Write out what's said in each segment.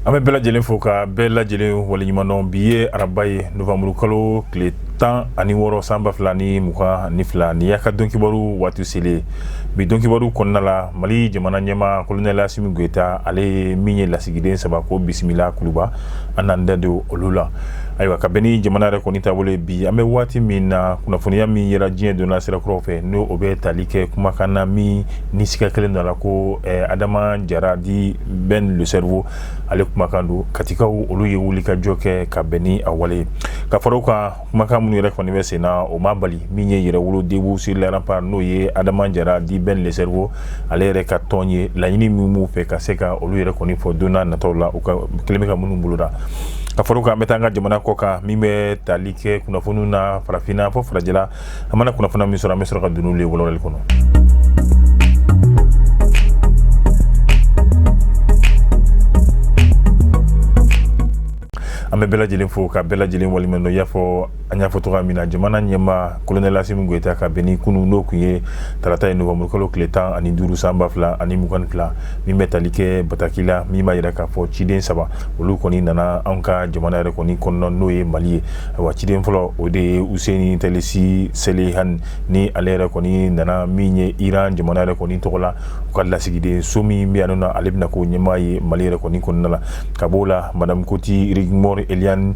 an bɛ bɛɛ lajɛlen fo ka bɛɛ lajɛlen waleɲumandɔn bi ye araba ye novanburu kalo tile tan ani wɔɔrɔ san ba fila ni mugan ni fila nin y'a ka donkibaru waati selen ye bi donkibaru kɔnɔna la mali jamana ɲɛmaa kolonɛla asimi goyita ale ye min ye lasigiden saba ko bisimila kuluba an n'an da don olu la ayiwa ka bɛn ni jamana yɛrɛ kɔni taabolo ye bi an bɛ waati min na kunnafoniya min yera diɲɛ donna sira kuraw fɛ n'o o bɛ tali kɛ kumakan na min ni siga kɛlen d'o la ko eh, adama jara dit ben le cerveau ale kumakan don katikaw olu ye wulikajɔ kɛ ka bɛn ni a wale ye ka fara o kan kumakan minnu yɛrɛ kɔni bɛ sen na o ma bali min ye yɛrɛwolo debout sur les remparts n'o ye adama jara dit ben le cerveau ale yɛrɛ ka tɔn ye laɲini min b'u fɛ ka se ka olu yɛrɛ kɔni fɔ don nataw la u kɛlen bɛ ka minnu boloda ka fara o kan an bɛ taa an ka jamana kɔ kan min bɛ tali kɛ kunnafoniw na farafinna fo farajɛla an mana kunnafoniya min sɔrɔ an bɛ sɔrɔ ka don n'olu ye walawalali kɔnɔ an bɛ bɛɛ lajɛlen fo ka bɛɛ lajɛlen waleɲumandɔn i y'a fɔ an y'a fɔ cogoya min na jamana ɲɛmaa kolonɛl asimi goyita ka bɛn ni kunun n'o tun ye tarata ye novanburukalo tile tan ani duuru san ba fila ani mugan fila min bɛ tali kɛ bataki la min b'a jira k'a fɔ ciden saba olu kɔni nana an ka jamana yɛrɛ kɔni kɔnɔna n'o ye mali ye wa ciden fɔlɔ o de ye useni tɛlisi salehani ale yɛrɛ kɔni nana min ye iran jamana yɛrɛ kɔni tɔgɔ la u ka lasigiden so min bɛ yan nɔ ale bɛna k'o ɲɛmaa ye mali yɛrɛ kɔni kɔnɔna la ka b'o la madamu koti rigmor elianne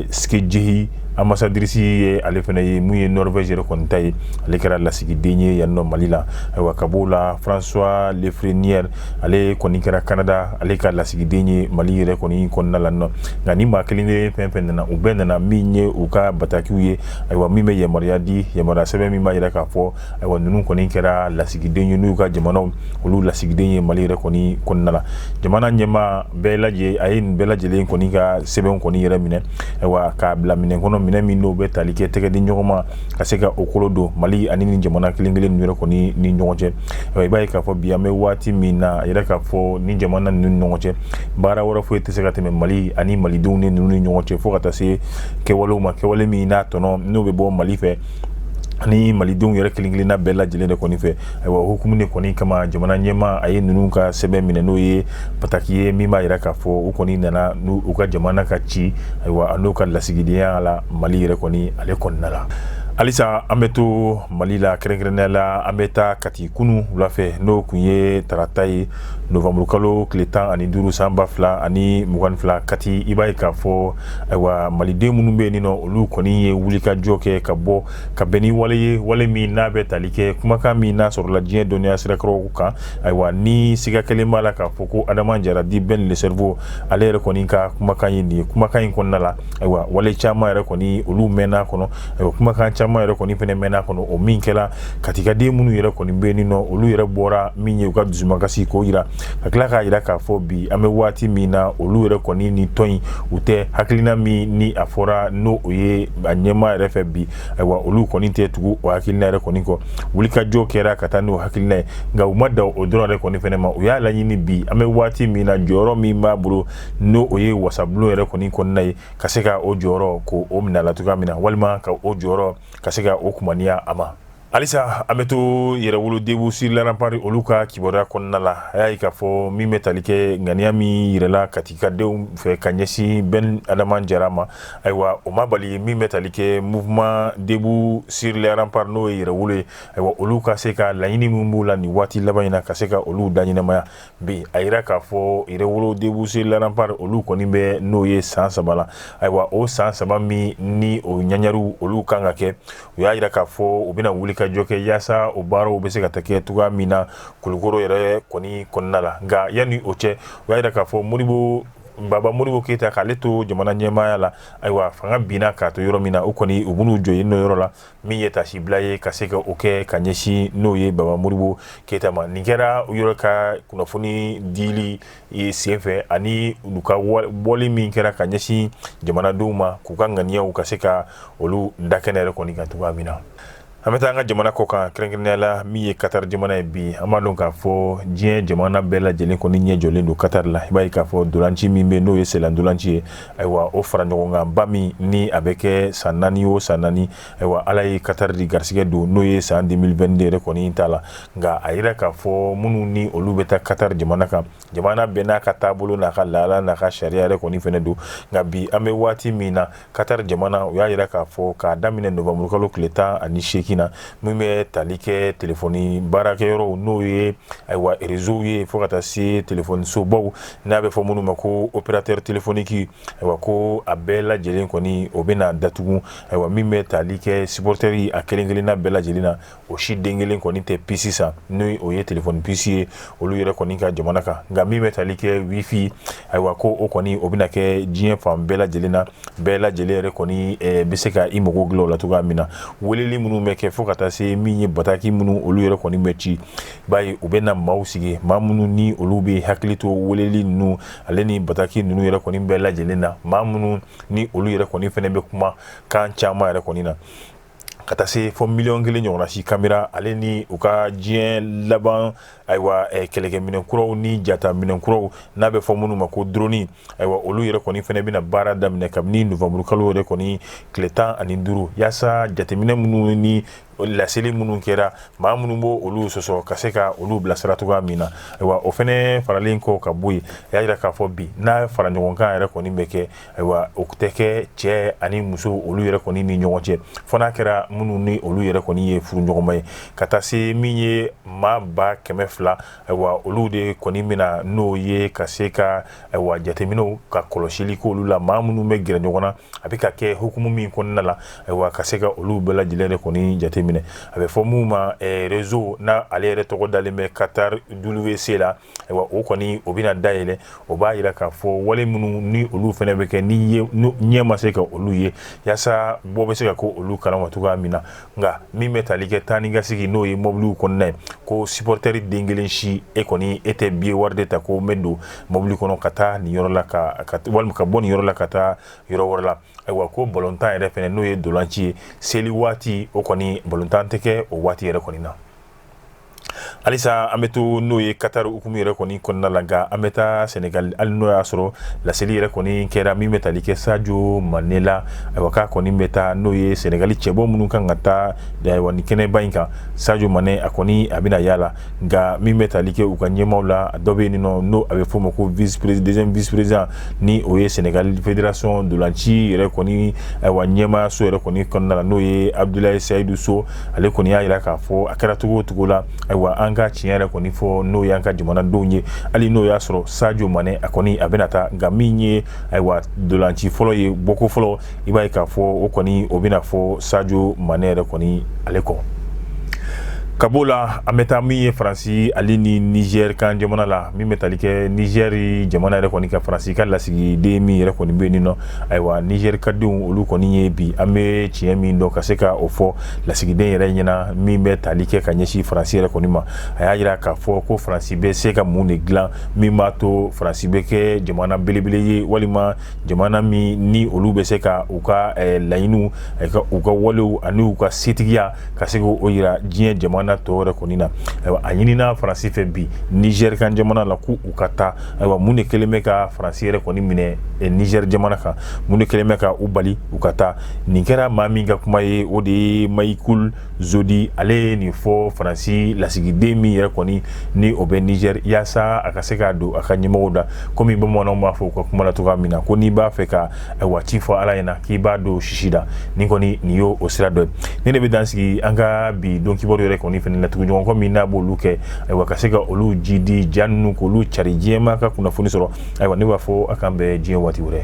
skjeie ambassadrice ye ale fana ye min ye norvège yɛrɛ kɔni ta ye ale kɛra lasigiden ye yan nɔ mali la ayiwa ka b'o la françois lafrenière ale kɔni kɛra kanada ale ka lasigiden ye mali yɛrɛ kɔni kɔnɔna la nɔ nka nin maa kelen de fɛn fɛn nana u bɛɛ nana min ye u ka batakiw ye ayiwa min bɛ yamaruya di yamaruya sɛbɛn min b'a jira k'a fɔ ayiwa ninnu kɔni kɛra lasigiden ye n'u ka jamanaw olu lasigiden ye mali yɛrɛ kɔni kɔnɔna la jamana ɲɛmaa bɛɛ lajɛ a ye nin bɛɛ lajɛlen kɔni ka sɛbɛnw kɔni yɛrɛ minɛ ayiwa k'a bila minɛ kɔnɔ minɛ min n'o bɛ tali kɛ tɛgɛ di ɲɔgɔn ma ka se ka o kolo don mali ani nin jamana kelen kelen yɛrɛ kɔni ni ɲɔgɔn cɛ i b'a ye k'a fɔ bi an bɛ waati min na a yera k'a fɔ nin jamana ninnu ni ɲɔgɔn cɛ baara wɛrɛ foyi tɛ se ka tɛmɛ mali ani malidenw ni ninnu ni ɲɔgɔn cɛ fo ka taa se kɛwalew ma kɛwale min n'a tɔnɔ n'o bɛ bɔ mali fɛ ani malidenw yɛrɛ kelenkelenna bɛɛ lajɛlen de kɔni fɛ ayiwa o hukumu de kɔni kama jamana ɲɛmaa a ye ninnu ka sɛbɛn minɛ n'o ye bataki ye min b'a yira k'a fɔ u kɔni nana n'u ka jamana ka ci ayiwa an'u ka lasigidenya la mali yɛrɛ kɔni ale kɔnɔna la halisa an bɛ to mali la kɛrɛnkɛrɛnnenya la an bɛ taa kati kunun wula fɛ n'o tun ye tarata ye novanburukalo tile tan ani duuru san ba fila ani mugan fila kati i b'a ye k'a fɔ ayiwa maliden minnu bɛ nin nɔ olu kɔni ye wulikajɔ kɛ ka bɔ ka bɛn ni wale ye wale min n'a bɛ tali kɛ kumakan min n'a sɔrɔla diɲɛ dɔnniya sirakɔrɔw kan ayiwa ni siga kelen b'a la k'a fɔ ko adama jara dit ben le cerveau ale yɛrɛ kɔni ka kumakan ye nin ye kumakan in kɔnɔna la ayiwa wale caman yɛrɛ kɔni olu mɛnna kɔnɔ ayiwa kumakan caman yɛrɛ kɔni fana mɛnna kɔnɔ o min kɛla katikaden minnu yɛrɛ kɔni bɛ nin nɔ olu yɛrɛ bɔra min ye u ka dusumakasi k'o yira ka tila k'a yira k'a fɔ bi an bɛ waati min na olu yɛrɛ kɔni ni tɔn in u tɛ hakilina min ni a fɔra n'o ye a ɲɛmaa yɛrɛ fɛ bi ayiwa olu kɔni tɛ tugu o hakilina yɛrɛ kɔni kɔ wulikajɔ kɛra ka taa n'o hakilina ye nka u ma dan o dɔrɔn yɛrɛ kɔni fɛnɛ ma u y'a laɲini bi an bɛ waati min na jɔyɔrɔ min b'a bolo n'o ye wasabulon yɛrɛ kɔni kɔnɔna ye ka se ka o jɔyɔrɔ k'o minɛ a la cogoya min na walima ka o jɔyɔrɔ ka se ka o kumaniya a ma halisa an bɛ to yɛrɛwolo debout sur les remparts olu ka kibaruya kɔnɔna la a y'a ye k'a fɔ min bɛ tali kɛ ŋaniya min yirala katikadenw fɛ ka ɲɛsin ben adama jara ma ayiwa o ma bali min bɛ tali kɛ mouvement debout sur les remparts n'o ye yɛrɛwolo ye ayiwa olu ka se ka laɲini min b'u la nin waati laban in na ka se ka olu da ɲɛnamaya bi a yira k'a fɔ yɛrɛwolo debout sur les remparts olu kɔni bɛ n'o ye san saba la ayiwa o san saba min ni o ɲagariw olu kan ka kɛ u y'a yira k'a fɔ u bɛna wulikajɔ kɛ yaasa o baaraw bɛ se ka taa kɛ cogoya min na kulukoro yɛrɛ kɔni kɔnɔna la nka yanni o cɛ u y'a yira k'a fɔ modibo baba modibo keyita k'ale to jamana ɲɛmaaya la ayiwa fanga binna k'a to yɔrɔ min na o kɔni u b'u jɔ yen nɔ yɔrɔ la min ye taasibila ye ka se ka o kɛ ka ɲɛsin n'o ye baba modibo keyita ma nin kɛra u yɛrɛ ka kunnafoni dili senfɛ ani u ka bɔli min kɛra ka ɲɛsin jamanadenw ma k'u ka ŋaniyaw ka se ka olu da kɛnɛ yɛrɛ kɔni kan cogoya min na an bɛ taa an ka jamana kɔ kan kɛrɛnkɛrɛnnenya la min ye katari jamana ye bi an b'a dɔn k'a fɔ diɲɛ jamana bɛɛ lajɛlen kɔni ɲɛ jɔlen don katari la i b'a ye k'a fɔ ntolanci min bɛ n'o ye senlantolanci ye ayiwa o faraɲɔgɔnkanba min ni a bɛ kɛ san naani o san naani ayiwa ala ye katari de garisɛgɛ don n'o ye san 2022 yɛrɛ kɔni in ta la nka a yira k'a fɔ minnu ni olu bɛ taa katari jamana kan jamana bɛɛ n'a ka taabolo n'a ka laada n'a ka sariya yɛrɛ kɔni fɛnɛ don nka bi an bɛ waati min na katari jamana u y'a yira k'a fɔ k'a daminɛ nowanburukalo tile tan ani seegin na min bɛ tali kɛ telefɔni baarakɛyɔrɔw n'o ye ayiwa erezow ye fo ka taa se telefɔnisobaw n'a bɛ fɔ minnu ma ko opérateur téléphonique ayiwa ko a bɛɛ lajɛlen kɔni o bɛna datugu ayiwa min bɛ tali kɛ supporters a kelen kelenna bɛɛ lajɛlen na o si den kelen kɔni tɛ puce san ni o ye téléphone puce ye olu yɛrɛ kɔni ka jamana kan nka min bɛ tali kɛ wifi ayiwa ko o kɔni o bɛna kɛ diɲɛ fan bɛɛ lajɛlen na bɛɛ lajɛlen yɛrɛ kɔni bɛ se ka i mago dilan o la cogoya min na weleli minnu bɛ kɛ fo ka taa se min ye bataki minnu olu yɛrɛ kɔni bɛ ci Bayi u bɛ na maaw sigi maa minnu ni olu bɛ hakili to weleli ninnu ale ni bataki ninnu yɛrɛ kɔni bɛɛ lajɛlen na maa minnu ni olu yɛrɛ kɔni fana bɛ kuma kan caman yɛrɛ kɔni na ka taa se fo miliyɔn kelen ɲɔgɔnsi kamera ale ni u ka diɲɛ laban ayiwa kɛlɛkɛminɛn kuraw ni jataminɛn kuraw n'a bɛ fɔ minnu ma ko dɔrɔni ayiwa olu yɛrɛ kɔni fana bɛna baara daminɛ kabini nowanburukalo yɛrɛ kɔni tile tan ani duuru walasasa jateminɛ minnu ni o laseli minnu kɛra maa minnu b'o olu sɔsɔ ka se ka olu bilasira cogoya min na ayiwa o fana faralen kɔ ka bɔ yen a y'a jira k'a fɔ bi n'a faraɲɔgɔnkan yɛrɛ kɔni bɛ kɛ ayiwa o tɛ kɛ cɛ ani muso olu yɛrɛ kɔni ni ɲɔgɔn cɛ fo n'a kɛra minnu ni olu yɛrɛ kɔni ye furuɲɔgɔnma ye ka taa se min ye maa ba kɛmɛ fila ayiwa olu de kɔni min na n'o ye ka se ka ayiwa jateminɛw ka kɔlɔsili k'olu la maa minnu bɛ gɛrɛ ɲɔgɔn na a bɛ ka kɛ hukumu min kɔnɔna la ayiwa ka se ka olu bɛɛ lajɛlen yɛrɛ kɔni jateminɛ a bɛ fɔ minnu ma eh, rezo na ale yɛrɛ tɔgɔ dalen bɛ katar wc la ayiwa o kɔni o bɛna dayɛlɛ o b'a jira k'a fɔ wale minnu ni olu fana bɛ kɛ ni ɲɛ ma se ka olu ye yaasa bɔ bɛ se ka k'olu kalama cogoya min na nka min bɛ tali kɛ taa ni ka segin n'o ye mɔbiliw kɔnɔna ye ko sipɔrɔtɛri den kelen si e kɔni e tɛ biye wari de ta ko n bɛ don mɔbili kɔnɔ ka taa nin yɔrɔ la ka walima ka bɔ nin yɔrɔ la ka taa yɔrɔ wɛrɛ la ayiwa ko balontan yɛrɛ fana n'o ye ntolanci ye seli waati o kɔni balontan tɛ kɛ o waati yɛrɛ kɔni na halisa an bɛ to n'o ye katari hukumu yɛrɛ kɔni kɔnɔna la nka an bɛ taa sɛnɛgali hali n'o y'a sɔrɔ laseli yɛrɛ kɔni kɛra min bɛ tali kɛ sajo mane la ayiwa k'a kɔni bɛ taa n'o ye sɛnɛgali cɛbɔ minnu kan ka taa ayiwa nin kɛnɛba in kan sajo mane a kɔni a bɛna y'a la nka min bɛ tali kɛ u ka ɲɛmaaw la dɔ bɛ yen nɔ n'o a bɛ f'o ma ko deuxième vice-président ni o ye sɛnɛgali federasɔn ntolanci yɛrɛ kɔni ayiwa ɲɛmaayaso yɛrɛ kɔni kɔnɔna la n'o ye abudulayi seyidu so ale kɔni y'a jira k'a fɔ a kɛra cogo o cogo la ayiwa an ka tiɲɛ yɛrɛ kɔni fɔ n'o y'an ka jamanadenw ye hali n'o y'a sɔrɔ sajo mane a kɔni a bɛna taa nka min ye ayiwa ntolanci fɔlɔ ye bɔko fɔlɔ i b'a ye k'a fɔ o kɔni o bɛna fɔ sajo mane yɛrɛ kɔni ale kɔ ka b'o la an bɛ taa min ye faransi ale ni nizɛri kan jamana la min bɛ tali kɛ nizɛri jamana yɛrɛ kɔni ka faransi ka lasigiden min yɛrɛ kɔni bɛ nin nɔ ayiwa nizɛri ka denw olu kɔni ye bi an bɛ tiɲɛ min dɔn ka se ka o fɔ lasigiden yɛrɛ ɲɛna min bɛ tali kɛ ka ɲɛsin faransi yɛrɛ kɔni ma a y'a jira k'a fɔ ko faransi bɛ se ka mun de dilan min b'a to faransi bɛ kɛ jamana belebele ye walima jamana min ni olu bɛ se ka u ka eh, laɲiniw eh, u ka walew ani u ka setigiya ka se k'o jira diɲɛ jamana tɔw yɛrɛ kɔni na a ɲinina faransi fɛ bi nizɛri kan jamana la ko u ka taa ayiwa mun de kɛlen bɛ ka faransi yɛrɛ kɔni minɛ eh, niger jamana kan mun de kɛlen bɛ ka u bali u ka taa nin kɛra maa min ka kuma ye o de ye mayikul zodi ale ye nin fɔ faransi lasigiden min yɛrɛ kɔni ni o bɛ niger yaasa a ka se ka don a ka ɲɛmɔgɔw da komi bamananw b'a fɔ u ka kuma la cogo min na ko n'i b'a fɛ ka ayiwa ci fɔ ala ɲɛna k'i b'a don sisi da nin kɔni nin y'o o sira dɔ ye ne de bɛ dan sigi an ka bi don kibaru yɛrɛ kɔni fana na tuguɲɔgɔn kɔ min n'a b'olu kɛ ayiwa ka se ka olu jiidi ja ninnu k'olu cari diɲɛ maa ka kunnafoni sɔrɔ ayiwa ne b'a fɔ a k'an bɛn diɲɛ waati wɛrɛ